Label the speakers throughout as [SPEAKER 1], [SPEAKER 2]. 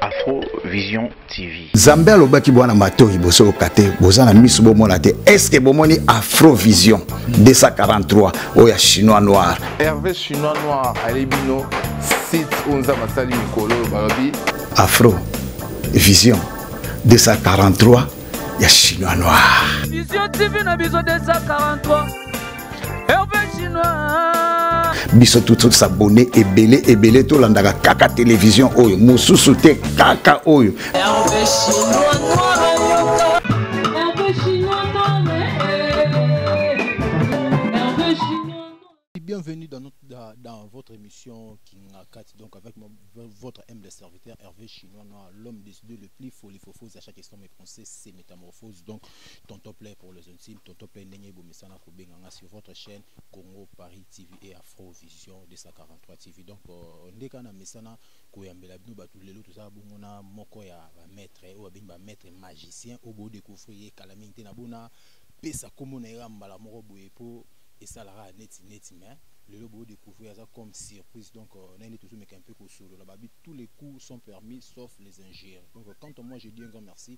[SPEAKER 1] Afro Vision TV. Zambe alobaki bwana
[SPEAKER 2] matoyi bosoloka te boza na miso bomona te eske bomoni Afro Vision 243 oyo ya chinois noir. Hervé chinois
[SPEAKER 3] noir ale bino site oyo nzambe asali mikolo oyo balobi Afro Vision
[SPEAKER 2] 243 ya chinois noir. Vision TV na
[SPEAKER 4] biso 243 biso
[SPEAKER 2] tout s'abonner ebele ebele tolandaka kaka télévision oyo mosusu te kaka oyo
[SPEAKER 4] Bienvenue dans, notre,
[SPEAKER 5] dans, dans votre émission Kingakati, donc avec mon, votre humble serviteur Hervé Chinois, l'homme des deux le plus folifophose à chaque instant, mais pensée, c'est métamorphose. Donc, tonton play pour les intimes tonton play ndenge ebomisana kobenga nga sur votre chaîne congo paris tv et afro vision 243 tv donc euh, nde kaka na mesana koyambela bino bato lelo tozala bongo na moko ya bamaître oyo babengi bamaître magicien oyo bodecouvrir ye kala mingi te na bona pesa nkombo na ye kaka mbala moko boye mpo esalaka neti neti mais lelo bodecouvrir aza comme surprise donc euh, nayende tozomeka mpe kosolola babi tous les coups sont permis sauf les injures donc quand moi je dis un grand merci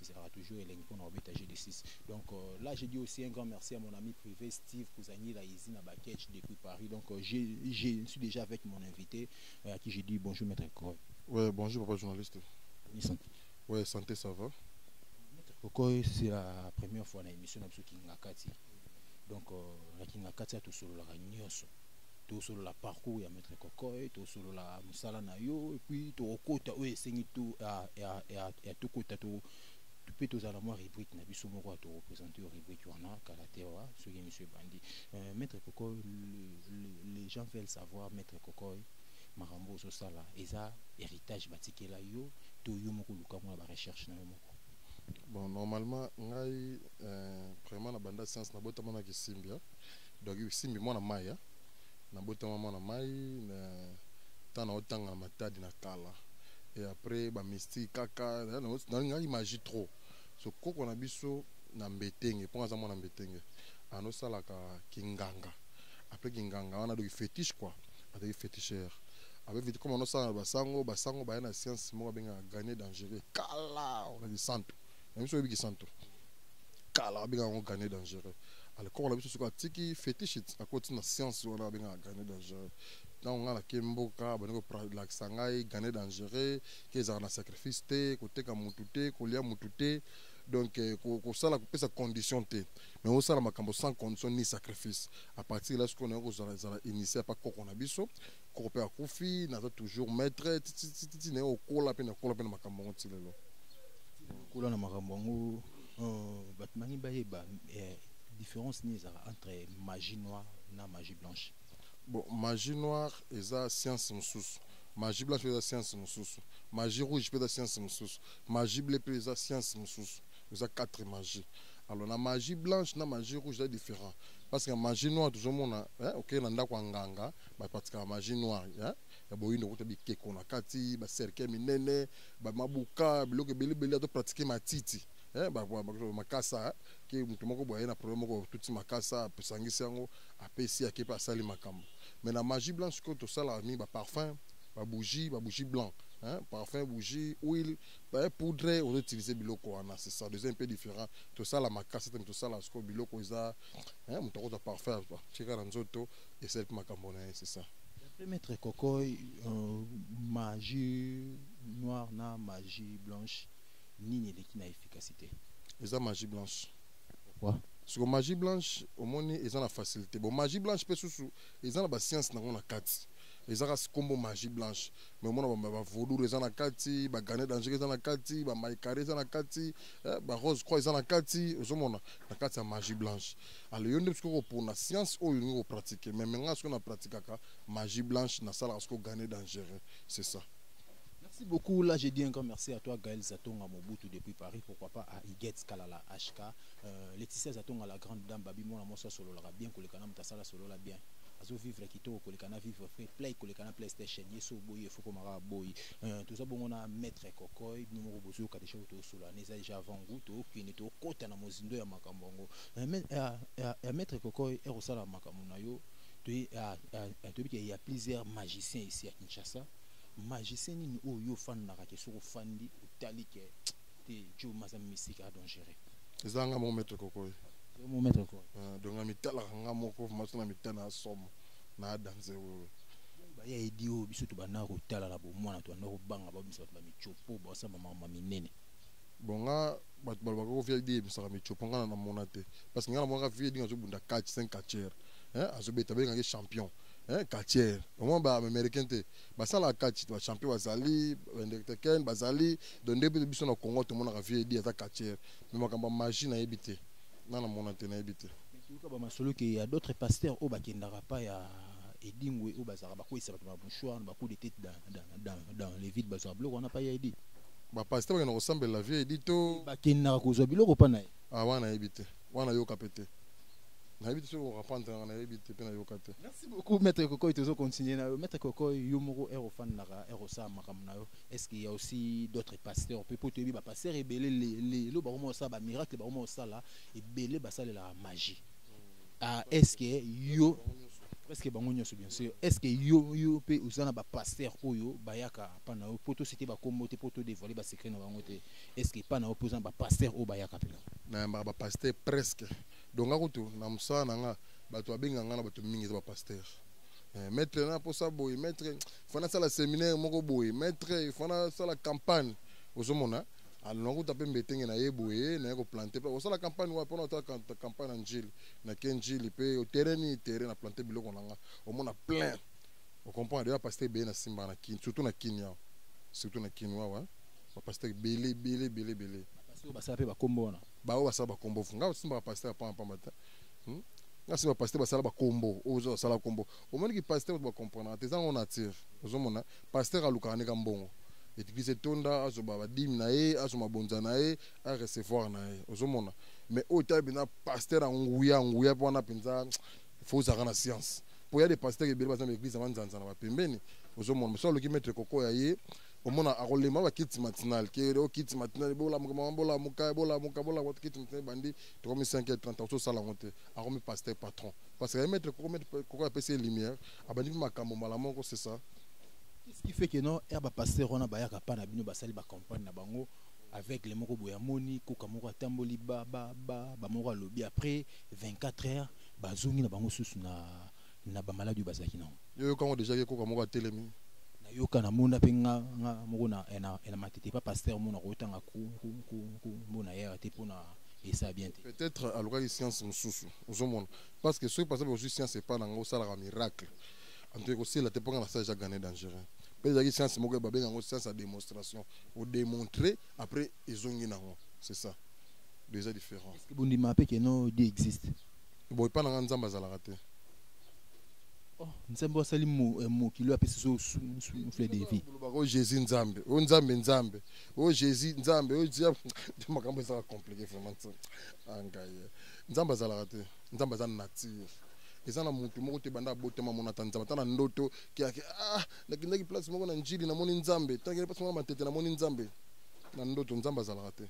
[SPEAKER 5] ezalaka toujours elengi mpona kobeta jeu de 6 donc euh, là je dis aussi un grand merci à mon ami privé steve kuzangila izi na bakech depuis paris donc euh, je, je suis déjà avec mon invité euh, à qui je dis bonjour maître kokoy ouais bonjour papa
[SPEAKER 6] journaliste oui, santé. ouais santé ça va maître kokoy
[SPEAKER 5] c'est la première fois na émission na biso kingakati donc euh, na kingakati atosololaka nyonso tosolola parcours ya maître kokoy tosolola mosala na yo epuis tokokota oyo esengi to ya tokota to mpe tozala na mwa rubrike na biso moko ya torepresente yo rubrike wana kala te wa soki emission ebandi euh, maître kokoy les gens veulent savoir maître kokoy makambo ozosala eza héritage batikela yo to yo moko oluka mwana barecherche na yo moko bon
[SPEAKER 6] normalement ngai euh, vraiment na banda science nabotama na kisimbia donc simbi mwana mai ya nabotama mwana mai na ntango naotanga na matadi na kala et après bamystique kaka nalingaki magie trop so koko na biso na mbetenge mpo aza mwana mbetenge anosalaka kinganga après kinganga wana adoki fétiche quoi azalaki féticheur abeviti comme anosala na basango basango baya na science moko abengaka ganie dangereux kala na lisantu nayebi soki oyebi kisantu kala abenga yango gane dangereux alcool na biso soki atiki fetichit akoti na science wana abengaka gane dangereux ntango ngai nake mboka bandi kolakisa ngai gane dangereux ke ezalaka na sacrifice te koteka mutu te kolia mutu te donc eh, kosala kopesa condition te mais osala makambo sans condition ni sacrifice à partir la sikoyo naye kozala ezala initie apa koko na biso koko mpe akufi naza toujours maître titititi naye okola mpe nakola mpe na makambo yango ti lelo okola
[SPEAKER 5] na makambo yango euh, bato bangi bayeba eh, différence nini ezalaka entre magie noire na magie blanche bon magie
[SPEAKER 6] noire eza science mosusu magie blanche mpe eza science mosusu magie rouge mpe eza science mosusu magie ble mpe eza science mosusu eza quatre magie alors na magie blanche na magie rouge eza différent parce que magie noire tozomona eh, okei na ndako ya nganga bapatikaka magie noire hein? ya boyindo kuta bikeko na kati baserke minene bamabuka biloko ebelebele ato pratike matiti hein? makasa hein? ke moto moko boye na problème moko tuti makasa apesangisi yango apesi ake mpe asali makambo mais na magie blanche sikoyo tosalaka mingi baparfum babougie babougie blanc hein? parfum bougie huile poudre ozoutilize biloko wana c'est ça deuxième mpe différent tosala makasa te tosala sikoyo biloko eza moto akozwa parfum atika na nzoto et celle qui m'a cambré c'est ça Après maître Kokoy,
[SPEAKER 5] euh, magie noire na magie blanche, nini eleki na efficacité eza magie
[SPEAKER 6] blanche Pourquoi
[SPEAKER 5] siko magie
[SPEAKER 6] blanche omoni eza na facilité bon magie blanche mpe susu eza na bascience nango na kati eza kasi nkombo magie blanche mais omona ba- ba- bavaudure eza na kati bagane danger eza na kati bamaikare eza na kati eh, barose croix eza na kati ozomona na kati ya magie blanche alors yo nde biso kopona science oyo olingi kopratike meme ngai soki napratikaka magie blanche nasalaka soki ogane dangereux c'est ça Merci
[SPEAKER 5] beaucoup. Là, j'ai dit un grand merci à toi, Gaël Zatonga Mobutu depuis Paris. Pourquoi pas à Iguetz Kalala HK. Euh, Laetitia Zatonga, la grande dame, Babi Mona Mosa Solo, la bien, Kolekana Mtasala Solo, la bien. Azo vivre Kito, Kolekana vivre free play, Kolekana PlayStation, Yeso Boy, Foko Mara Boy. Euh, tout ça, bon, on a Maître Kokoy, Numero Bozo, Kadesha Oto Solo, Neza déjà avant goût, Okine, Kota, Namozindo, Yamakambango. Eh, eh, ah, eh, ah, maître koko ekosala makambo na yo toyebi ah, ke ya plusieurs magicien ici ya kinshasa magicien nini oyo yo ofandaka ke soki ofandi otali ke te jo maza misika adangere eza nga moko maître
[SPEAKER 6] koko mo maître koko
[SPEAKER 5] donc nga mitalaka
[SPEAKER 6] nga moko maso na mitana ya somo na adanse wewe baya edi
[SPEAKER 5] oyo biso tobandaka kotala na bomwana tobandaka kobanga babisa bato bamicopo basala bamama minene bon nga
[SPEAKER 6] bato balobaka ko vip eyemisaka micopo nga na namona te parce que nga namonaka vip dinga azobunda catch saint catcher azobeta abengaki champion catcher omoi baaméricain te basalaka catch bachampion bazali baindekteken bazali don nde mpe biso na congo tomonaka vip aza catcher me makambo ya magie nayebi te nga namona te nayebi te toyoka bamasolo
[SPEAKER 5] ke ya d'autres pasteur oyo bakendaka pa ya edingwe oyo bazalaka bakweyisa bato na mouchoir na bacoup de tete dans les villes bazwaka biloko wana pai ya edi bapasite bakenda
[SPEAKER 6] kosambela vie edi to bakendaka kozwa biloko
[SPEAKER 5] mpa na ye ah, wana nayebi te
[SPEAKER 6] wana nayoka mpe te nayebi te soki okorapante nanga nayebi te mpe nayoka te
[SPEAKER 5] merci beaucoup maître kokoy tozo continue na yo maître kokoy yo moko ere ofandaka ere osala makambo na yo est ce qu'il y a aussi d'autres pasteurs mpe mpo toyebi bapasteur ebele lelo bakoma kosala bamiracle bakoma kosala ebele basalelaka magie ah est ce que yo presque bango nyonso bien sûr est ce que yo yo mpe oza na bapasteur oyo bayaka mpa na yo mpo tosite bakombo te mpo todevoile basecret na bango te est ce que mpa na yo mpe oza na bapasteur oyo bayaka mpena nayambaka bapasteur
[SPEAKER 6] presque donc nga kutu na mosala na nga bato babenga nga na bato mingi eza bapasteur eh, maître na mposa boye maître fana asala séminaire moko boye maître fana asala campagne ozomona alona kuta mpe mbetenge na ye boye naye koplante mpe kosala campagne wapi mpona otala campagne na njili na ke njili mpe terrain nini terrain na plante biloko na nga omona plein ocomprendre deja paste ebele na simba na kin surtout na kin yawa surtout na kin wawa bapaster ebele ebele ebele ebele basala mpe bakombo
[SPEAKER 5] wana baoyo basala bakombo
[SPEAKER 6] nga osimbaka paster ya pamba pamba te nga simba paster basala bakombo oyo ozo basala kombo omoni ki pasteur ba comprendre te ezango nature ozomona pasteur alukaka ndeka mbongo etikisi etonda azoba badime na ye azo mabonza na ye a recevoir na ye ozomona mais oyo etali mpenza pasteur ya nguya nguya mpe wana mpenza fo ozalaka na science mpo ya de pasteur ebele baza na eglise ya manzanza na bapembeni ozomona mosu aloki maître koko ya ye omona akolema bakiti matinale ke o kiti matinale bolamuka mama bolamuka bolamuka bolamuka kiti matinale bandi tokomi 5 heures 30 ososala yango te akomi pasteur patron parce que maître koko maître koko apesi ye lumière abandi mpe makambo mbala moko c'est ça ce qui fait
[SPEAKER 5] que non er bapasteur wana bayaka mpa na bino basali bacampagne na bango aveugle moko boye amoni koka moko atamboli ba ba ba bamoko alobi après 24 heures bazongi na bango susu na na bamaladi oyo bazalaki nango yoyoka yango déjà ye koka
[SPEAKER 6] moko atelemi nayoka namona
[SPEAKER 5] mpe nga nga moko na eh, na eh, matete pa pasteur mona kotanga mbona yaya te mpo na esa bien te peut-être alukaki
[SPEAKER 6] science mosusu ozomona parce que soki par exemple ozwi science epai na yango osalaka miracle anto ekosila te mpo nga na sage ya gane dangereux mpe ezalaki science moko babenga yango science ya démonstration odemontre après ezongi na yango c'est ça déjà différent bondima mpe keno
[SPEAKER 5] dieu existe bon epai na nga
[SPEAKER 6] nzambe azalaka te
[SPEAKER 5] oh, nzambe asali eh, mokili apesi so souffle de vie jésus nzambe
[SPEAKER 6] oyo nzambe nzambe oh jésus nzambe oh, nde makambo ezalaka compliqué vraiment ah, ngai eh. nzambe azalaka te nzambe aza nature eza na motu moko te banda abotama mona ata nzambe ata na ndoto kiake ah nakendaki place moko na njili namoni nzambe ntakende place moko na matete namoni nzambe na ndoto nzambe azalaka te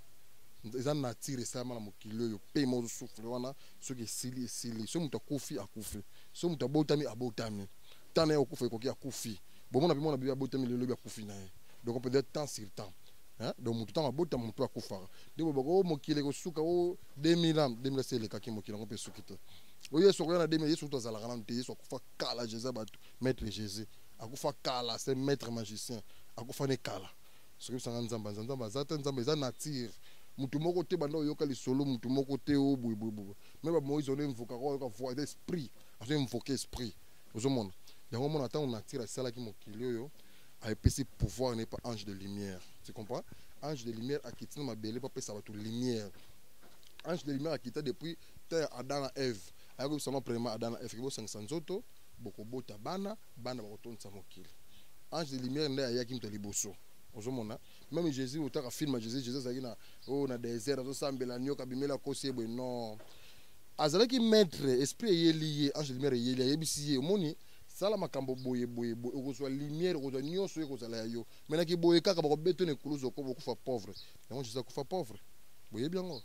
[SPEAKER 6] eza nature esalama na mokili oyo mpe moko souffle wana soki esili esili soki moto akufi akufi soki moto abotami abotami temps naye okufa ekoki akufi bomona mpe mwana bebe abotami lelo lobi akufi na ye donc peut être temps sur temps hein? donc moto ntango abotama moto akufaka nde bobaka o oh, mokili ekosuka o oh, 2000 ans 2000 se elekaki mokili yango mpe esuki te oyo oh, yesu akoya na 2000 yesu kutu azalaka nano te yesu akufa kala jesus bato maître jésus akufa kala se maître magicien akufa ne kala soki bisanga nzambe anza nzambe aza te nzambe eza nature moto moko te banda oyoka lisolo moto moko te o oh, boyeboyeboye me bamoise ono invokaka oyoka voi esprit azo invoke esprit ozomona yango omona ntango nature asalaki mokili oyo apesi pouvoir n'est pas ange de lumière tu comprends ange de lumière akiti na mabele mpo apesa bato lumière ange de lumière akita depuis temps ya adam na eve ayaki koyebisa no premièrement adam na eve kebosangisa nzoto bokobota bana bana bakotondisa mokili ange de lumière nde ayaki moto ya liboso ozomona meme jésus otaka film ya jésus jésus azalaki na oyo oh, na désert azosambela nioka bimela kosi ye boye non azalaki maitre esprit eyeli ye ange lumière eyeli ayebisi ye omoni sala makambo boye boye boye okozwa lumière okozwa nyonso ekozala ya yo me na kiboye kaka bakobeto na ekulusu oko bokufa pauvre yango jesus akufa pauvre boyebi yango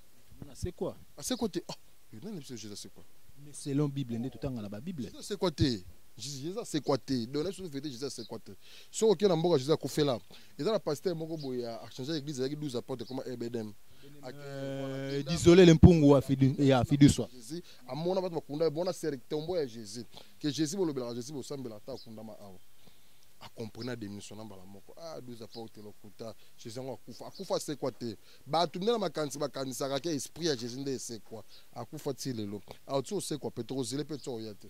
[SPEAKER 6] asekwa
[SPEAKER 5] asekwa te ah,
[SPEAKER 6] nani biso jesus asekwa mais selon bible nde
[SPEAKER 5] totanga na babible jesus asekwa te
[SPEAKER 6] jesus asekwa te donc na biso vete jesus asekwa te soki okei na mboka jesus akufela eza na pasteur moko boye achange église ezalaki 12 apôtre ekoma ebedem euh,
[SPEAKER 5] désolé le mpungu ya fiduswa amona bato
[SPEAKER 6] bakunda bona sere tombo ya jésus ke jésus bolobelaka jésus bosambela ata akundama awa akomprena démissionna mbala moko a ah, 12 apôtre lokuta jésus yango akufa akufa asekwa te bato nde na makanisi bakanisaka ke esprit ya jésus nde esekwa akufa ti lelo awa ti osekwa mpe tokozile mpe ti oya te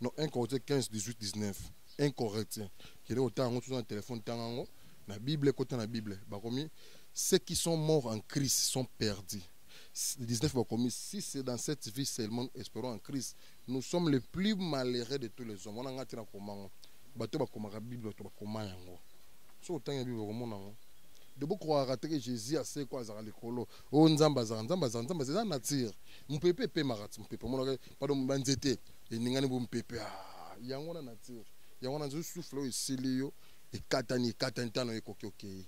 [SPEAKER 6] Non, 1 Corinthiens 15, 18, 19. 1 Corinthiens. Il est autant en dans le téléphone, dans la Bible, côté la Bible. Bakomi, ceux qui sont morts en Christ sont perdus. 19 Bakomi, si c'est dans cette vie seulement, espérons en Christ, nous sommes les plus malheureux de tous les hommes. On a un tirage comment Bato bakoma la Bible, bato bakoma yango. So autant la Bible, comment nango. De beaucoup croire que Jésus a c'est quoi, azara likolo, oyo nzambe azalaka nzambe azalaka nzambe eza nature mopepe epemaka ti mopepe omonaka pado banzete eningani bo mopepe ah, yango wana nature yango wana nzoki sufle oyo esili yo ekatani ekatani ntano ekoki okei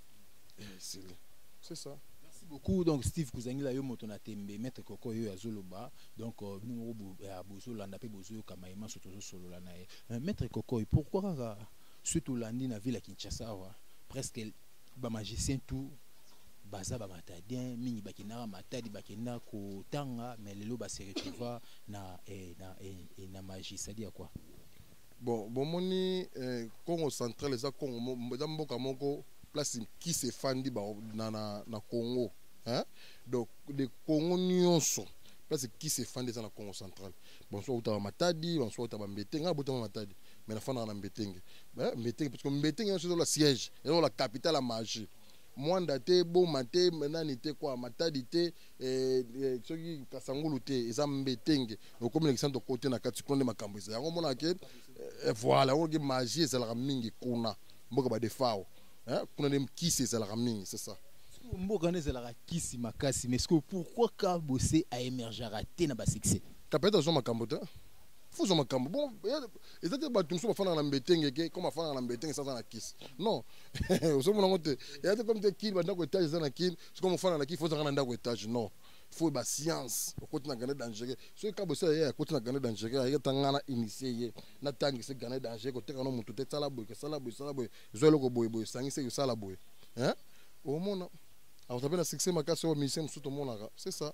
[SPEAKER 6] eh, esili c'est ça merci beaucoup donc
[SPEAKER 5] steve kozangela yo moto na tembe maître koko yo azoloba donc euh, bino moko euh, bozolanda mpe bozoyoka maye manso tozosolola na ye euh, maître koko pourquoi kaka soki tolandi na ville ya kinshasa awa presque ba magicien tout baza ba matadien mingi bakendaka matadi bakenda kotanga mais lelo ba se retrouva na eh, na eh, eh, na magie c'est à dire quoi bon
[SPEAKER 6] bomoni eh, congo central eza congo eza mboka moko place kisi efandi na, na, na congo hein? donc le congo nyonso place kisi efandi eza na congo central banso autaka matadi banso autaka bambete ngai abotama matadi mais nafandaka na mbetenge eh, mbetenge parce que mbetenge nyonso ezola siège ezola capitale ya magie mwanda te boma te nani te kwa matadi te eh, eh, soki kasangulu te eza mbetenge okomi na kisanto kote na kati kuna nde makambo eza yango omonaka ke voilà yango ke magie ezalaka mingi kuna mboka badefao kuna nde kisi ezalaka mingi c'est ça mboka wana ezalaka
[SPEAKER 5] kisi makasi mais ce que pourquoi kabose aemergeaka te na basuccès kapeta azwa makambo te
[SPEAKER 6] faut zwa makambo bon eza te bato mosusu bafandaka na mbetenge ke comme afandaka na mbetenge esa aza na kisi non ozomona yango te eza te comme te kini bandako etage eza na kini soki omofanda na kini faut ozalaka na ndako etage non faut ba science okoti na gane dangereux soki kabo esala ye akoti na gane dangereux ayeke ata ngai na initie ye natangisi gane dangereux koteka no motu te sala boye kesala boye sala boye zwa eloko boye boye sangisa ekosala boye omona akozala mpe na succès makasi oyo musicien mosusu tomonaka c'est ça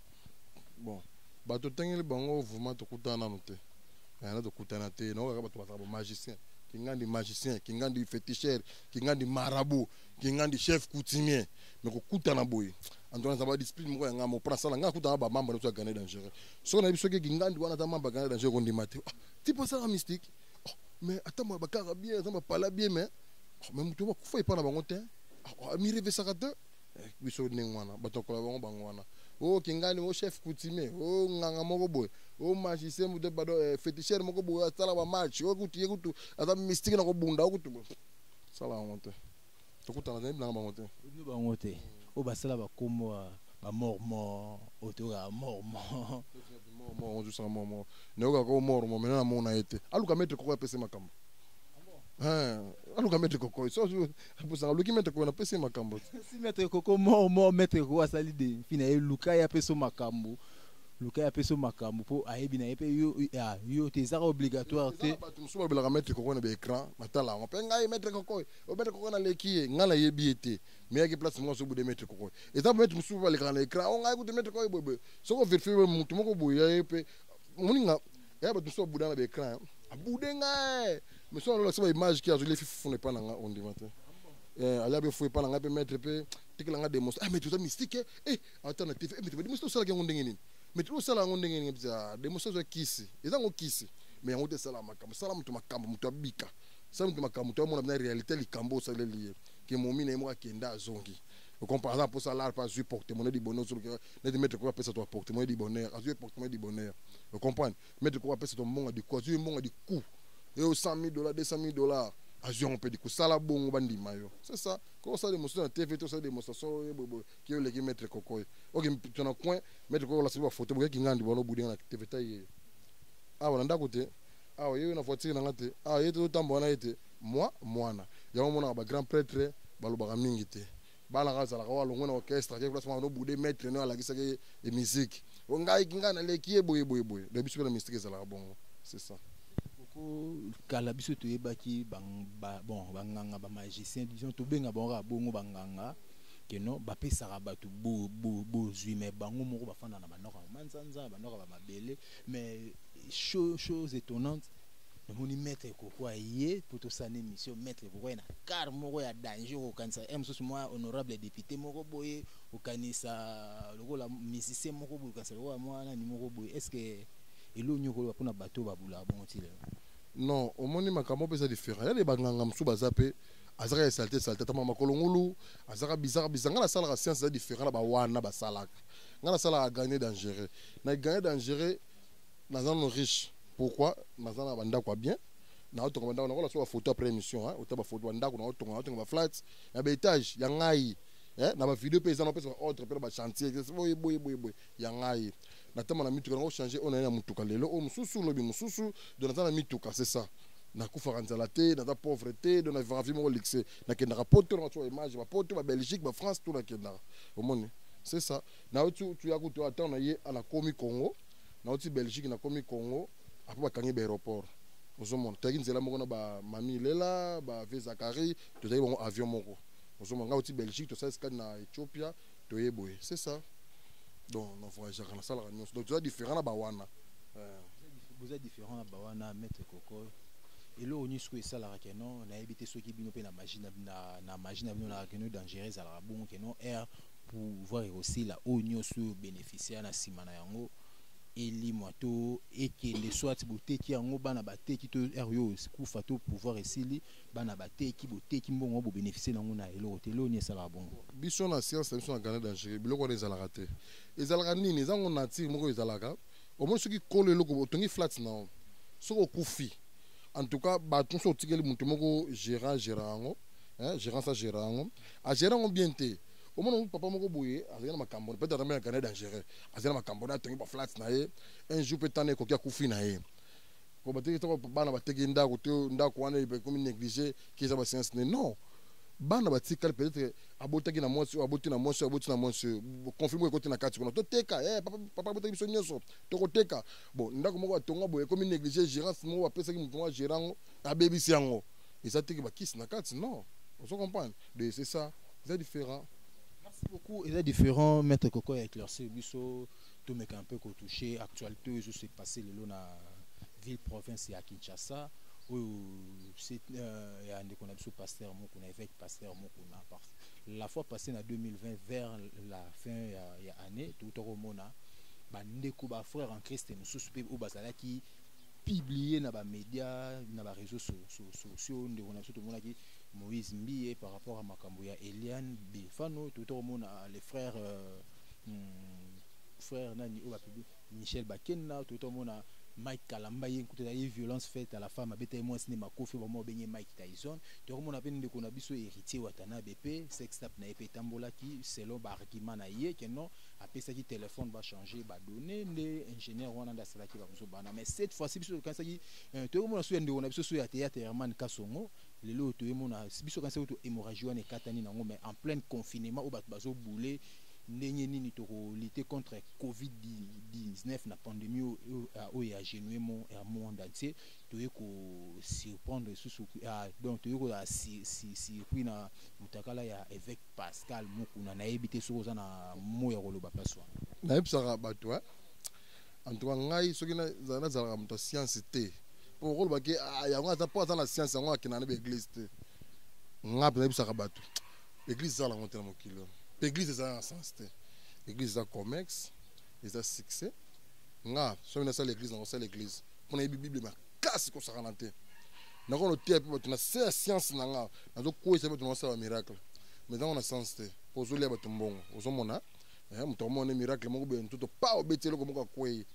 [SPEAKER 5] bon
[SPEAKER 6] bato totangeli bango vraiment tokutana nanu te na tokutana te nao kaka bato bazala bamagicien kingandi magicien kingandi féticheur kingandi marabout kingandi chef coutumier me kokutana boye antoine aza badiscipline moko ya ngai mopona asala ngai akutana bamambre nyonso ya gane dangereux soki nayebi soki kingandi wana aza mambre ya gane dangereux kondima te ah, ti mpo asala mystique oh, mais ata bakaka bien aza bapala bien mais oh, mais moto bakufa epai na bango te ah, oh, amirevesaka te Eh, biso ndenge wana bato akola bango bango wana o oh, kingani o oh, chef coutumier o oh, nganga moko boye o magicien moto bado eh, féticheur moko boye asala bamatch o kutu ye kutu aza mystique na kobunda o kutu boye sala yango te tokutana te bilanga bango te bino bango te
[SPEAKER 5] oyo basala bakombo bamormon oyo toyokaka mormon mormon
[SPEAKER 6] ozosaka mormon nayokaka o mormon mena namona ye te aluka maître koko apese makambo ah aluka maître koko apesaka oluki maître koko napesi ye makambo te si maître
[SPEAKER 5] koko mort mort maître koko asali de mpi
[SPEAKER 6] na
[SPEAKER 5] ye luka ye apesa makambo luka ye apesa makambo mpo ayebi na ye mpe yo ah, yo te ezaka obligatoire te bato mosusu balobelaka maître
[SPEAKER 6] koko na baécran natala yango mpe ngai maître koko oyo oh, maître koko naleki ye ngai nayebi ye te meyaki place moko azobude maître koko eza maître mosusu balekaka na écran o oh, ngai kutu maître koko boyeboye soki overifie moto moko boye ye mpe moninga ya eh, bato mosusu babuda na baecran abude eh. ngai eh. mais soki alolakisa baimage ki azoli efi fufuna epai na ngai ondima te ali abe fo epai na ngai mpe maître mpe tikela ngai demonstration ah mais toza mystique eh ata na tv mais toba demonstration osalaki yango ndenge nini mais tilo osala yango ndenge nini bza demonstration ya kisi eza yango kisi mais yango te esala makambo sala moto makambo moto abika sala moto makambo moto amona bina réalité likambo osaleli ye ke momi na ye moko akenda azongi okompa aza mposa alar mpe azwi porte mona libono ozolukela neti maître koko apesa to apportement ye du bonheur azwi apportement ye du bonheur o comprendre maître koko apesa to mbongo du coup azwi mbongo du coup eyo 100 000 dollars 200 000 dollars azwi yango mpe du coup sala bongo bandima yo c'est ça ko osala demonstration na tv to osala demonstration oyo boyeboye ki oleki maître koko ye oke mpito na coin maître koko olasaki bafoto boyaki ngandi bwana obudenga na tv tai ye awa na ndako te awa yeyo na voiture na nga te awa ye te otambola na ye te mwa mwana yango omonaka bagrand prêtre balobaka mingi te bana ka azalaka wa longo na orchestre ake place mwana obude maître no alakisaki ye e musique o ngai ngai naleki ye boye boye boye donc biso mpe na mystique ezalaka bongo c'est ça ko
[SPEAKER 5] kala biso toyebaki bang, ba, bon banganga ba magicien disons tobenga bango kaka bongo banganga keno bapesaka bato bozwi bo, bo, mais bango moko bafanda na banoka manzanza banoka bamabele mais chose étonnante namoni maître kokwa ye mpo tosala émission maître kokwa ye na car moko ya danger okokanisa ye mosusu mwa honorable député moko boye okanisa lokola musicien moko boye okanisa lokola mwa nani moko boye est ce que eloo nini okoloba mpo na bato oyo babulaka bongo ti lelo non
[SPEAKER 6] omoni makambo mpe eza différent yale banganga mosusu baza mpe azaka ya salte salte atama makolo ngulu azaka bizaka bizaka ngai nasalaka science eza différent na bawana basalaka ngai nasalaka gagner dangereux na gagner dangereux naza no riche pourquoi naza na bandako ya bien naotonga bandako nakola so bafoto après émission hein, ota bafoto bandako naotonga naotonga baflat ya baetage ya ngai eh, na bavideo mpe eza napesa baordre mpe na bachantier boye boye boye boye ya ngai natama na mituka nango change oyo naye na motuka lelo oyo mosusu lobi mosusu do naza na mituka c'est ça nakufaka nzala te naza pauvre te do navivaka vie moko lixe nakendaka poto nanga tya image bapoto babelgique bafrance to nakendaka omoni c'est ça nayo tuya kutu ata na ye anakomi congo nauti belgique nakomi congo après bakangi ba aéroport ozomona toyaki nzela moko na ba mami lela ba vie zakari tozalaki bango avion moko ozomona ngai auti belgique tosali skade na ethiopia toye boye c'est ça donc na voyageaka nasalaka nyonso donc toza différent na bawana
[SPEAKER 5] boza différent na bawana maître koko eloko nyonso oyo esalaka keno nayebi te soki bino mpe na magie na magie na bino na keno dangereux ezalaka bongo keno air pouvoir ekosila oyo nyonso oyo beneficiaire na nsima na yango elimwa to ekende soit boteki yango bana bateki to heure yo kufa to pouvoir esili bana bateki boteki mbongo yango bobeneficie nango na eloko te eloko nini esalaka bongo biso na science na biso
[SPEAKER 6] na gane dangerie biloko wana ezalaka te ezalaka nini eza ngo nature moko ezalaka omoni soki kolo eloko otongi flat na yo soki okufi en tout cas bato nyonso otikeli moto moko gérant gérant yango gérance agéra yango agéra yango bien te omona yango papa moko boye azali na makambo peut-être atambe na canada dangereux azali na makambo na atongi baflate na ye un jour mpe tana ekoki akufi na ye po bateki toko bana bateki ndako te ndako wana ekomi néglige ki eza basiance ne non bana batikali peut-être abotaki na mwasi oyo aboti na mwasi oyo aboti na mwasi oyo conflit moko ekoti na kati kuna toteka eh, papa, papa abotaki biso nyonso tokoteka bon ndako moko atonga boye ekomi néglige gérance moko bapesaki moto moko agera yango abebisi yango eza teke bakisi na kati non ozo comprendre de c'est ça eza différent merci beaucoup
[SPEAKER 5] eza différent maître koko ya éclaircir biso tomeka un peu kotouche actualité oyo ezose passe lelo na ville province ya kinshasa oyo euh, ya ndeko na biso pasteur moko na évêque pasteur moko na la fois passée na 2020 vers la fin ya, ya année touta komona bandeko bafrère en christ mosusu mpe oyo bazalaki publier na ba media na ba réseaux sociaux ndeko na biso tomonaki Moïse Mbiye par rapport à makambo ya Eliane Bifano tout omona les frères euh, hmm, frère nani oyo bapibi Michel Bakenna tout omona Mike Kalamba ye nkuta ye violence faite à la femme abeta ye mwasi ne makofi ba mwa benge Mike Tyson to komona pe ndeko na biso héritier Watanabe pe sex tap na ye pe tambolaki selon ba argument na ye que non apesaki telefone bachange badonne nde ingénieur wana nde asalaki babuzoba wana mais cette fois ci biso tokanisaki euh, toyei komona so ya ndeko na biso so ya théâtre herman kasongo lelo oyo toyei mona biso tokanisaki to hémorragie wana ekatani nango mais en pleine confinement oyo bato bazoboule ndenge nini tokolite contre covid 19 na pandémie oyo euh, ya genue mo ya monde entier toyei kosurprendre lisusu euh, donc toyei kozala surpris na motakala ya évêque Pascal Mukuna nayebi te soki oza na mot ya koloba paswa. Nayebisaka
[SPEAKER 6] bato hein. En tout cas ngai soki nazalaka moto ya science te mpo okoloba ke ah, yango aza mpo aza na science yango akenda na baeglise te. Ngai mpe nayebisaka bato eglise ezala yango te na mokili oyo mpe eglise ezala na sens te. Eglise eza commerce eza succès nga soki nasala eglise nakosala eglise mpo nayebi bible makasi kosakana te nakoki noteya mpe bato na se ya science na nga nazokweyisa bato na basala bamiracle mais ntango na science te mpo ozolia bato mbongo ozomona eh, moto akomona nde miracle moko boye ntoto pa obeti eloko moko akwei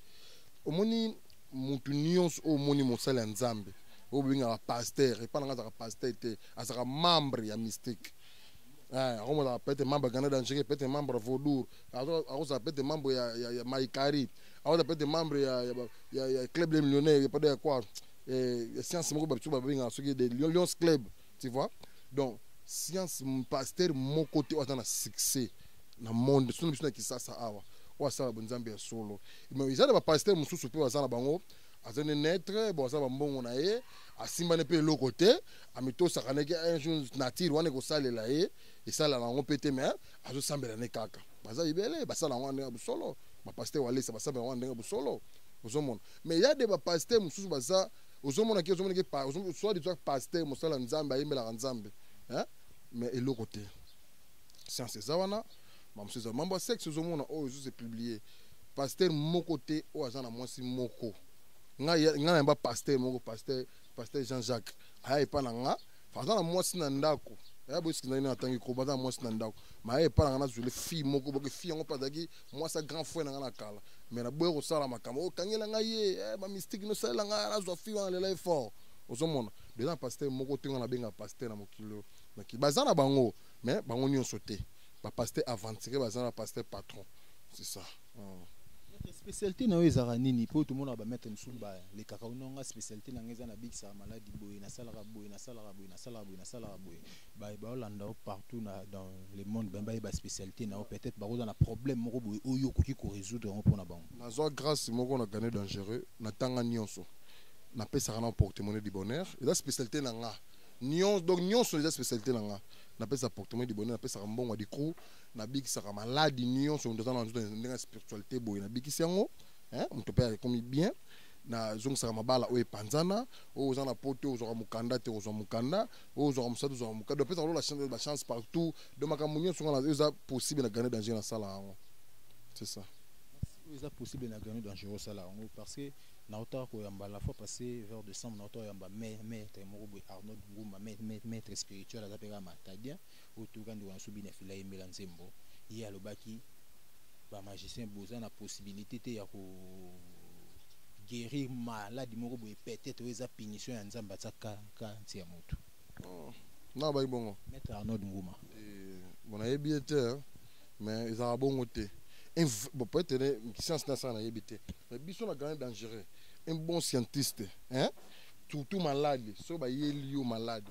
[SPEAKER 6] omoni motu nyonso oyo omoni mosali ya nzambe oyo bobengaka paster epai na nga azalaka paster te azalaka membre ya mystique eh, akomozala pete membre ya canada angere pete membre ya vaudour akozala pete membre ya maikari awata peut être membre ya, ya, ya, ya club des millionnaires ya pada ya quoi eh, ya science moko babiso babengaka soki de lions club tu vois donc science pasteur moko te oyo aza na succès na monde soki na biso na kisasa awa oyo asala bonzambe ya solo mais eza na bapasteur mosusu mpe baza na bango aza ne netre bon aza bambongo na ye asimbani mpe eloko te amitosaka ndeke un jour nature wana ekosalela ye esalaka yango mpe te mais azosambela ne kaka baza ebele basala yango ndenge ya bosolo bapaster walesa basambela yango ndenge ya bosolo ozomona mais ya de bapaster mosusu baza ozomona ke ozomona ke soit disant paster mosala nzambe ayembelaka nzambe mais eloko te science eza wana bamosusu eza mambo ya sexe ozomona oyo oh, ezozo epublie paster moko te oyo oh, aza na mwasi moko ngai na yamba paster moko paster paster jean jacques aya epa na nga aza na mwasi na ndako ya boyesiki ndenge nini atangi koba aza na mwasi na ndako maye epai na ngai nazwile fille moko boke fille yango mpe azalaki mwasi ya grand frère na ngai na kala me naboya kosala makambo okangela oh, ngai ye eh, bamystike nosalela ngai nazwa fille wana lela ye fort ozomona beza na pasteur moko te ngai nabenga pasteur na mokili oyo naki baza na bango me bango nyonso te bapasteur aventure baza na pasteur patron c'est ça Oh.
[SPEAKER 5] spécialité na yo ezalaka nini mpo tomonaka bamaitre mosusu balekaka ononga spécialité na ngai eza nabikisaka maladi boye nasalaka boye nasalaka boye nasalaka boye nasalaka boye baolanda yo partout na dans le monde bambe bayeba spécialité na yo peut-être bakozwa na problème moko boye oyo okoki korésoudre yango mpo na bango nazwa grâce moko
[SPEAKER 6] na gane dangereux natanga nyonso napesaka na portemone du bonheur eza spécialité na nga nyonso donc nyonso eza spécialité na nga napesaka portemone du bonheur napesaka mbongo ya dicrou nabikisaka maladi nyonso moto aza na nzoto ndenge ya spiritualité boye nabikisi yango hein, moto mpe akomi bien nazongisaka mabala oyo epanzana oyo oza na poto ozwaka mokanda te ozwa mokanda oyo ozwaka mosatu ozwaka mokanda opesaka lola chance ba chance partout donc makambo nyonso nga oyo eza possible na grande danger nasala yango c'est ça oyo eza
[SPEAKER 5] possible na grande danger osala yango parce que naotaka koyamba la fois passé vers décembre naotaka koyamba mai maître moko boye arnold nguma maître spirituel aza mpe kaka matadien oyo toyoka ndeko na biso bina fila yembela nzembo ye alobaki bamagicien boza na possibilité te ya ko guérir maladi moko boye peut-être oyo eza punition ya nzambe atia kaka nse ya motu oh, na
[SPEAKER 6] bayi bongo maître arnold nguma
[SPEAKER 5] eh, bon nayebi
[SPEAKER 6] ye te mais ezalaka bongo te bon peut-être ne science na sala nayebi te mais biso na grand dangereux un bon scientiste hein surtout malade soki bayeli yo malade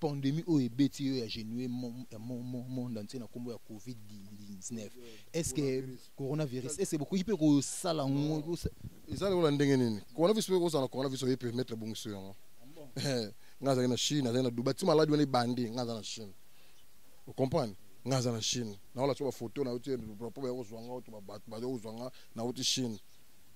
[SPEAKER 5] pandemie oyo ebeti yo ya genue monde entier na nkombo ya covid 19 est ce que coronavirus est ce que bokoki mpe kosala yango eza lokola ndenge
[SPEAKER 6] nini coronavirus mpe kozala na coronavirus oye permettre ebongiso yango eh, nga azali na chine azali na dubai ti maladi wana ebandi nga aza na chine ocomprendre nga aza na chine naola so bafoto nauti problème ya kozwa nga oto bato baza kozwa nga nauti chine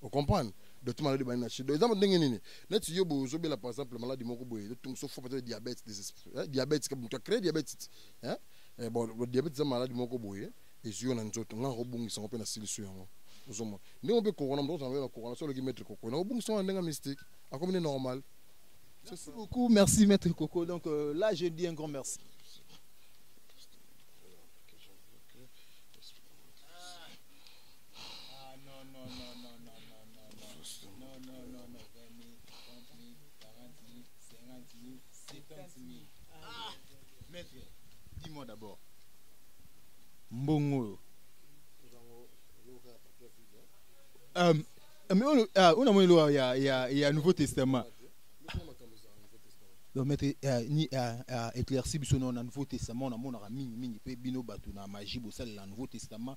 [SPEAKER 6] ocomprendre donc ti maladi bani na chine donc eza ndenge nini neti yo boye ozobela par exemple maladi moko boye ezotungiso fo peut-être diabète eh, diabète kaka moto acree diabète hein? Eh, bon diabète eza maladi moko boye ezwi yo na nzoto nga nakobungisa yango mpe nasilisi yango ozomona ndenge mpe kokona moto ozanga yo na kokona so oloki maître kokona nakobungisa yango na ndenge ya mystique akomi nde normal Merci
[SPEAKER 5] beaucoup, merci Maître Coco. Donc euh, là, je dis un grand merci. dis-moi d'abord mbongo oyo euh, mais oyo euh, namoni loka ya, ya, ya nouveau testament donc maître euh, ni euh, euh, éclairci biso na nouveau testament namonaka mingi mingi mpe bino bato na magie bosalela nouveau testament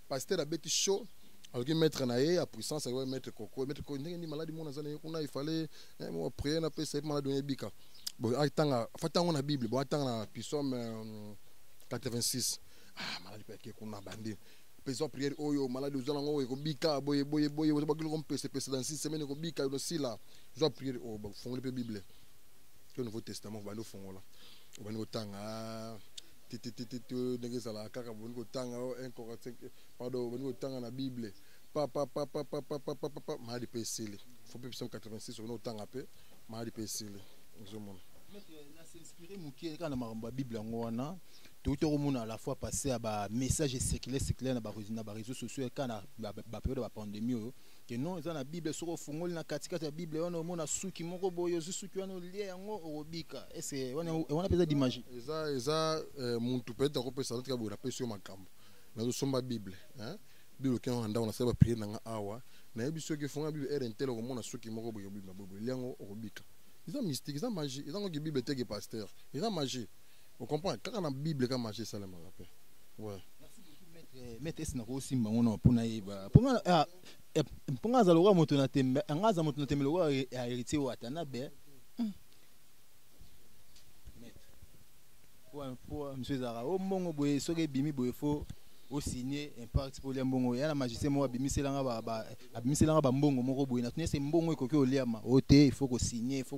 [SPEAKER 6] pasteur abeti show azoki maître na ye ya puissance akoki maître koko maître koko ndenge nini maladi mona aza na ye kuna ifale priere na pesa ye maladi oyo ebika atanga afati yango na bible bo atanga na pisome 86 ah maladi mpe ake kuna bandi pesa priere oyo maladi oza nango ekobika boye boye boye oza bakiloko mpese pese dans six semaine ekobika osila zwa priere oyo bafongoli mpe bible to nouveau testament obandi ofongola obandi kotanga tititititu ndenge ezalaka kaka boni kotanga o 1 45 pardon boni kotanga na bible papapapapapapapa maladi mpe esili fo mpe psaume 86 oboni kotanga mpe maladi mpe esili ozomona na s'inspire
[SPEAKER 5] moke kaka na makambo ya bible yango wana touti okomona à la fois passé ya bamessage esekile esekile na baréseau sociaux kaka na baperiode ya bapandemie oyo que non eza na bible soki ofungoli na katikati ya bible wana omona suki moko boye ozwi suki wana olie yango okobika ese wana wana mpenza dimagie eza eza
[SPEAKER 6] eh, muntu peut-être akopesa noti kaboye napesi yo makambo nazosomba bible hein? bible okenda na ndako nasala bapriere na nga awa nayebi soki ofunga bible ere ntele okomona suki moko boye obima boye boye lia yango okobika eza mystique eza magie eza ngoki bible teke pasteur eza magie o comprendre kaka na bible kaka magie esalemaka mpe ouais.
[SPEAKER 5] maître esi nakosimba ngo na mpo nayeba mpo nga ah, eh, mpo nga aza lokola moto na tembe anga aza moto na tembe lokola ya héritier wata na be hmm. mpo misu ezalaka o oh, mbongo boye soki ebimi boye fo osigne impact mpo olia mbongo ya na magicien moko abimiselanga bambongo moko boye na tuni ese mbongo ekoki oliama o oh, te il faut kosigne il faut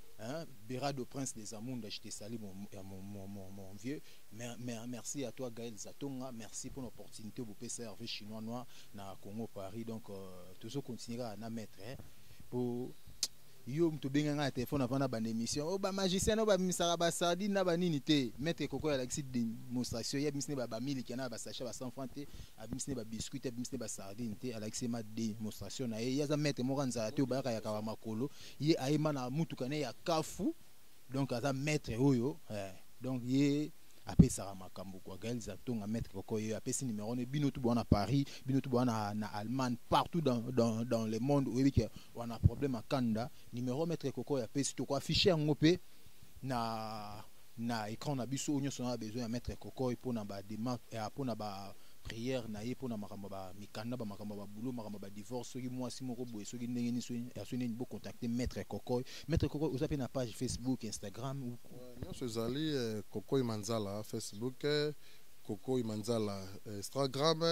[SPEAKER 5] Hein, Berado Prince des Amunda, je te salue mon, euh, mon, mon, mon, mon vieux. Mer, mer, merci à toi Gaël Zatonga, merci pour l'opportunité pour PCRV chinois noir na Congo Paris. Donc euh, toujours continuer à na mettre hein, pour yo moto obengaka na telefone avanda banda émission oyo oh, bamagicien oyo babimisaka basardine na banini te maître koko alakisi démonstration ye abimisi nde bamiliki na basache ba 100 franc te abimisi nde babiscuit te abimisi nde basardine te alakisi ma démonstration na ye ye aza maître moko ya nzala te obayaka yakaka makolo ye ayema na mutuka ne ya kafu donc aza maître oyo eh. donc ye apesaka makambo kwa gael zatonga maître koko ye apesi numéro ne bino tout na paris bino tout na, na allemagne partout dans, dans, dans le monde oyebi ke wana problème akanda numéro maître koko ye apesi toko affiche yango mpe na na ecran na biso oyo nyonso na besoin ya maître kokoy mpo na badema eh, mpo na ba prière na ye mpo na makambo ba mikanda ba makambo ba boulot makambo ba divorce soki mwasi moko boye soki ndenge nini soki ya soki nini bocontacte maître kokoy maître kokoy oza mpe na page facebook instagram ou Euh, nyonso ezali
[SPEAKER 6] eh, kokoy manzala facebook eh, kokoy manzala eh, instagram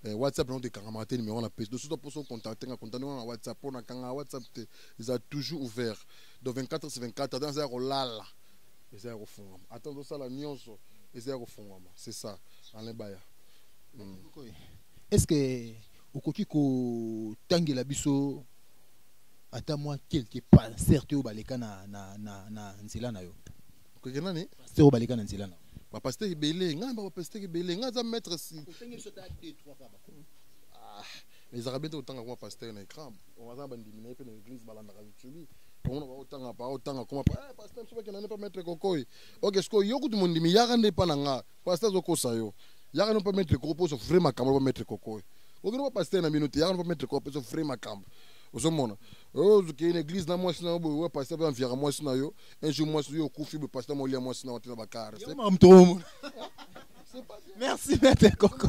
[SPEAKER 6] eh, whatsapp nango te ekangamaka te numero na pesi dosuta mposo contacte nga contacte nga na whatsapp mpo na kangaka whatsapp te eza toujours ouvert donc 24 sur 24 ata naza ya kolala eza ya kofungama ata ozosala nyonso eza ya kofungama c'est ça alain baya mm.
[SPEAKER 5] est ce que okoki kotangela biso ata mwa quelque pasteur te oyo baleka na, na, na, na nzela na yo okeke nani
[SPEAKER 6] pasteur oyo baleka na nzela na
[SPEAKER 5] yo bapasteur ebele
[SPEAKER 6] ngai bapasteur ebele ngai aza maître si mais ezalaka bien te kotanga koma pasteur na écran aza na bandimi na ye mpe na église balandaka youtube omona baotanga pa otanga koma pa eh, pasteur biso bakenda nde mpa maître kokoi ok sikoyo yo kutu mondimi yaka nde mpa na nga pasteur azokosa yo yaka nde mpa maître koko mpo ozo vrai makambo loba maître kokoi okende mpa pasteur na bino te yaka nde mpa maître koko mpe ozo vrai makambo ozomona ozokei na église na mwasi na yo boye wa pasteur mpe amviaka mwasi na yo un jour mwasi yo okufi boye pasteur molia mwasi na yo te na bakare merci maître koko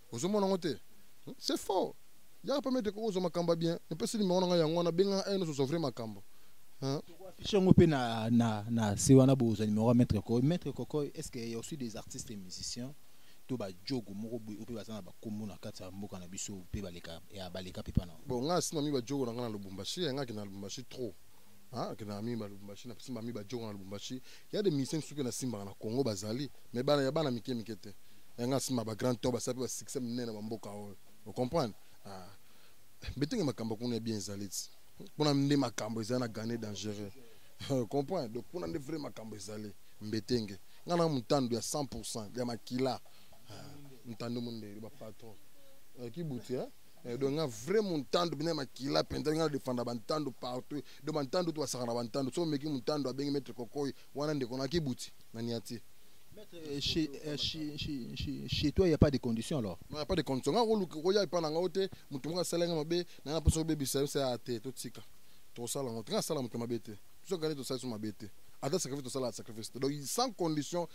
[SPEAKER 6] ozomona yango te hmm? c'est faux yaka pembe te kokozwa makambo ya bien napesi nimero na ngai yango wana benganga aino tozwa vrai makambo affiche yango mpe na,
[SPEAKER 5] na, na se wana bozwa nimero ya maître kokoy maître kokoy est ce que ya aussi des artistes et musiciens to bajogo moko boye oyo mpe baza na bakombo na kati ya mboka na biso mpe baleka ya baleka mpe pana bon ngai asima mi bajogo
[SPEAKER 6] na ngai na lubumbashi ya ngai akenda na lubumbashi trop Ah, akendaka mingi ba lubumbashi na simba mingi bajoko na lubumbashi ya de musicien mosusu mpe nasimbaka na congo bazali mais bana ya bana mike mike te yanga asimba bagrand to basala mpe basuccès minene na bamboka oyo ocomprendre ah. betenge makambo kuna ya bien ezali ti mpona nde makambo ezali na gane dangereux comprendre donc mpona nde vrai makambo ezali mbetenge ngai na motando ya 100 pourcent ya makila ah, motando mondeli bapatron eh, kibuti eh? Eh, donc nga vrai muntandu bina makila mpenza nga defanda bantandu partout do bantandu to basaka na bantandu so omeki muntandu abengi maître kokoy wana ndeko na kibuti na niati Maître, eh,
[SPEAKER 5] chez, eh, chez, chez, chez toi, il n'y a pas de conditions alors Non, il n'y a pas de conditions. Nga
[SPEAKER 6] koluka koya epa na nga ote, mutu moko asala nga mabe, na nga poso bebe sa sa ate to tika. To sala ngo, nga sala mutu mabe te. Biso kale to sala so mabe te. Ata sacrifice to sala sacrifice. Donc sans condition,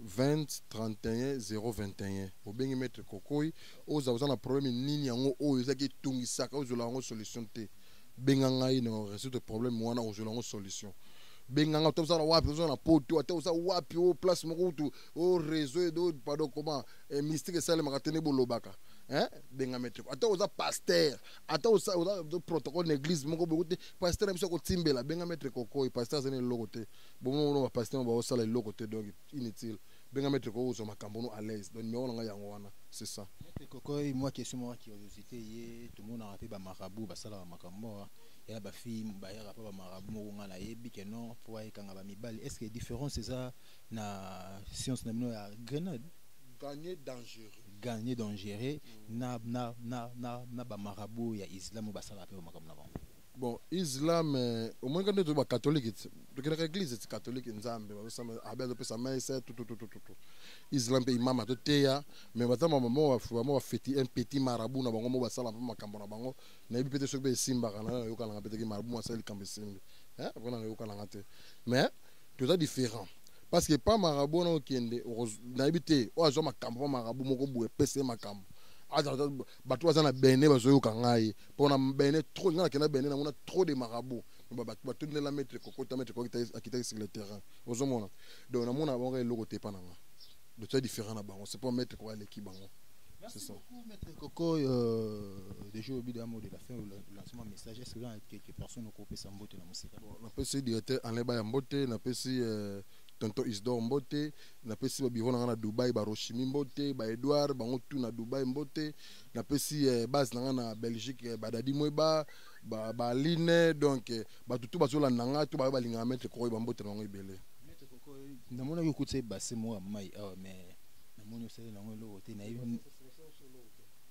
[SPEAKER 6] 20 31 021 obengi maître kokoi oza oza na problème nini yango oyo ezaki etungisaka ozwela yango solution te benga ngai na résoudre problème wana ozwela yango solution benga ngai ata oza na wapi oza na poto ata oza wapi o place moko kutu o réseau edo pado koma eh, mystique esalemaka te nde bolobaka eh? benga maître ata oza pasteur ata oza protocole na église moko boye te pasteur na biso akotimbela benga maître kokoi pasteur azali na eloko te bongo bongo ba pasteur ba osala eloko te donc inutile benga maître ko ozo makambo no à l'aise donc numéro nanga yango wana c'est ça maître koko moi
[SPEAKER 5] question moi curiosité ye tout monde a pe ba marabout ba sala makambo ya ba fille ba ya pa ba marabout moko nga na yebi que non po ay kanga ba mibali est-ce que différence eza na science na bino ya grenade gagner dangereux gagner dangereux mm. na na na na na ba marabout ya islam ba sala pe makambo na bango bon
[SPEAKER 6] islam eh, omoni kaka nde bakatholike tokendaka eglise ti katholike nzambe abe azopesa mese tututututu islam mpe imama toteya me baza bamwa bafeti un petit marabu na bango mo basala mpe makambo na bango nayebi mpe te soki mpe esimbaka na nayokananga mpe teke marabu mo asali likambo esimbi eh, mpona nayokananga te mais toza différent parce que pa marabu wana okende nayebi te oyo azwa makambo pa marabu moko boye epesa ye makambo bato baza na bene bazoyoka ngai mpo na bene trop ngai nakenda bene namona trop de marabout batundela maître kokota maître akitaki sur le terrain ozomona donc namona bango kaka eloko te epa na ngai donc toza différent na bango c'est mpo maître koko aleki bango Merci ça. beaucoup,
[SPEAKER 5] Maître Coco. Euh, déjà, au bout d'un mot de la fin, le lancement message, est-ce que vous avez quelques personnes au groupe Sambote dans mon site Bon, on appelle ce directeur
[SPEAKER 6] Alain Bayambote, on appelle ce euh, tonto isdor mbote napesi babiro na ngai na dubai baroshimi mbote baedouard bango tu na dubai mbote napesi eh, base na ngai na belgique eh, badadi mweba baaline donc eh, bato tu bazolanda ngai to bayo balingaka maitre kokoyo bambote na bango ebele
[SPEAKER 5] namonaki okutisa ebase moko ya mai awa mais namoni osali nango eloko te nayebi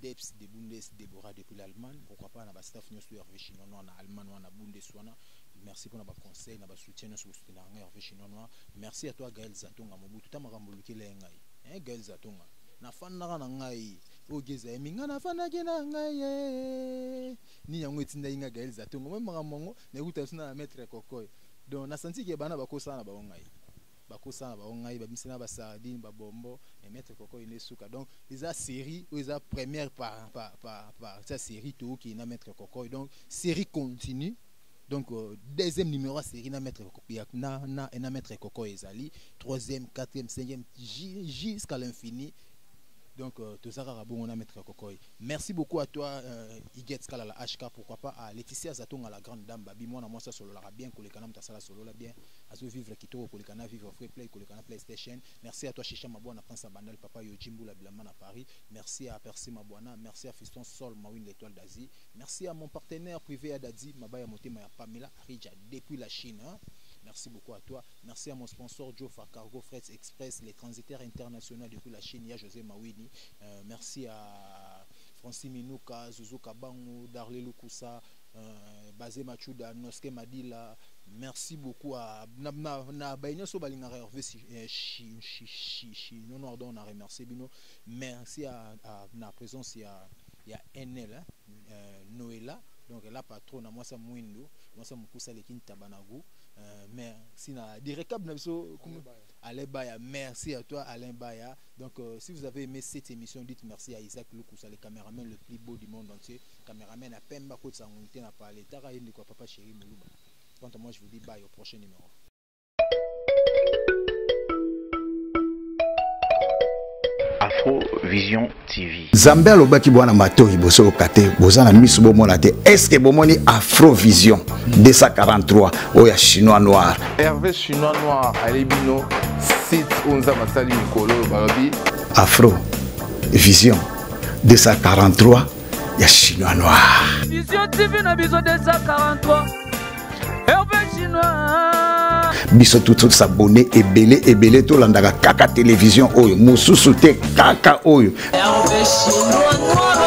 [SPEAKER 5] Deps de Bundes Deborah depuis l'Allemagne pourquoi pas na ba staff nyoso ya Hervé Chinois na Allemagne wana Bundes wana merci pona ba conseil na ba soutien nyoso ko soutenir ngai Hervé Chinois noir merci à toi Gaël Zatonga Mobutu ta makambo lukela ye ngai hein Gaël Zatonga na fandaka na ngai ogeza ye minga na fandaki na ngai ye nini yango etindaki ngai Gaël Zatonga mwe makambo yango na ekuta sina na maître Kokoy donc na senti ke bana bakosana na bango ngai bakosana bango ngai babimisa na basardine babombo mais maître koko ine suka donc eza série oyo eza première par par par par eza série tookei na maître koko donc série continue donc euh, deuxième numéro ya série na maître Koko- ya- na, na, na maître koko ezali troisième quatrième cinquième ju- jusqu'à l'infini donc euh, toza kaka bongo na maître kokoy merci beaucoup à toi euh, iget kala la hk pourquoi pas à laetitia zatonga la grande dame babi mwana mwasi asololaka bien koleka na moto asala solola bien azo vivre kitoko koleka na vivre free play koleka na playstation merci à toi shisha mabwana prince abandal papa yoji mbula bilamba na paris merci à percy mabwana merci à fiston sol mawin l'étoile d'asie merci à mon partenaire privé ya dadi mabaya motema ya pamela arija depuis la chine hein? Merci beaucoup à toi. Merci à mon sponsor Jofa Cargo Freight Express, les transitaires internationaux depuis la Chine, ya José Mawini. Euh, merci à Francis Minuka, Zuzu Kabangu, Darlé Lukusa, Euh, Bazé Machuda, Noske Madila, merci beaucoup à na na na baignon so balinga Hervé si eh, chi chi chi chi non non on a remercié bino merci à, à na présence il y a il y a NL hein, euh, Noëlla donc la patronne moi ça mwindo moi ça mukusa le kin tabanago euh, merci na direcab na biso Alain Baya merci à toi Alain Baya donc euh, si vous avez aimé cette émission dites merci à Isaac Lukusa le caméraman le plus beau du monde entier Cameraman à Pemba akotisa yango invité na parler. Taka ye ndeko papa chéri Muluba. Quant à moi je vous dis bye au prochain numéro.
[SPEAKER 1] Afro Vision TV. Zambe alobaki bwana
[SPEAKER 2] matoi boso lokate boza na misu bomona te. Est-ce que bomoni Afro Vision 243 oya chinois noir. Hervé chinois
[SPEAKER 3] noir alebino site onza masali mikolo balobi Afro Vision
[SPEAKER 2] 243 ya chinois noir vision tv na
[SPEAKER 4] biso 243 herve chinois biso
[SPEAKER 2] tutus abonne ebele ebele tolandaka kaka televizio oyo mosusu te kaka
[SPEAKER 4] oyo
[SPEAKER 2] herve chinois noir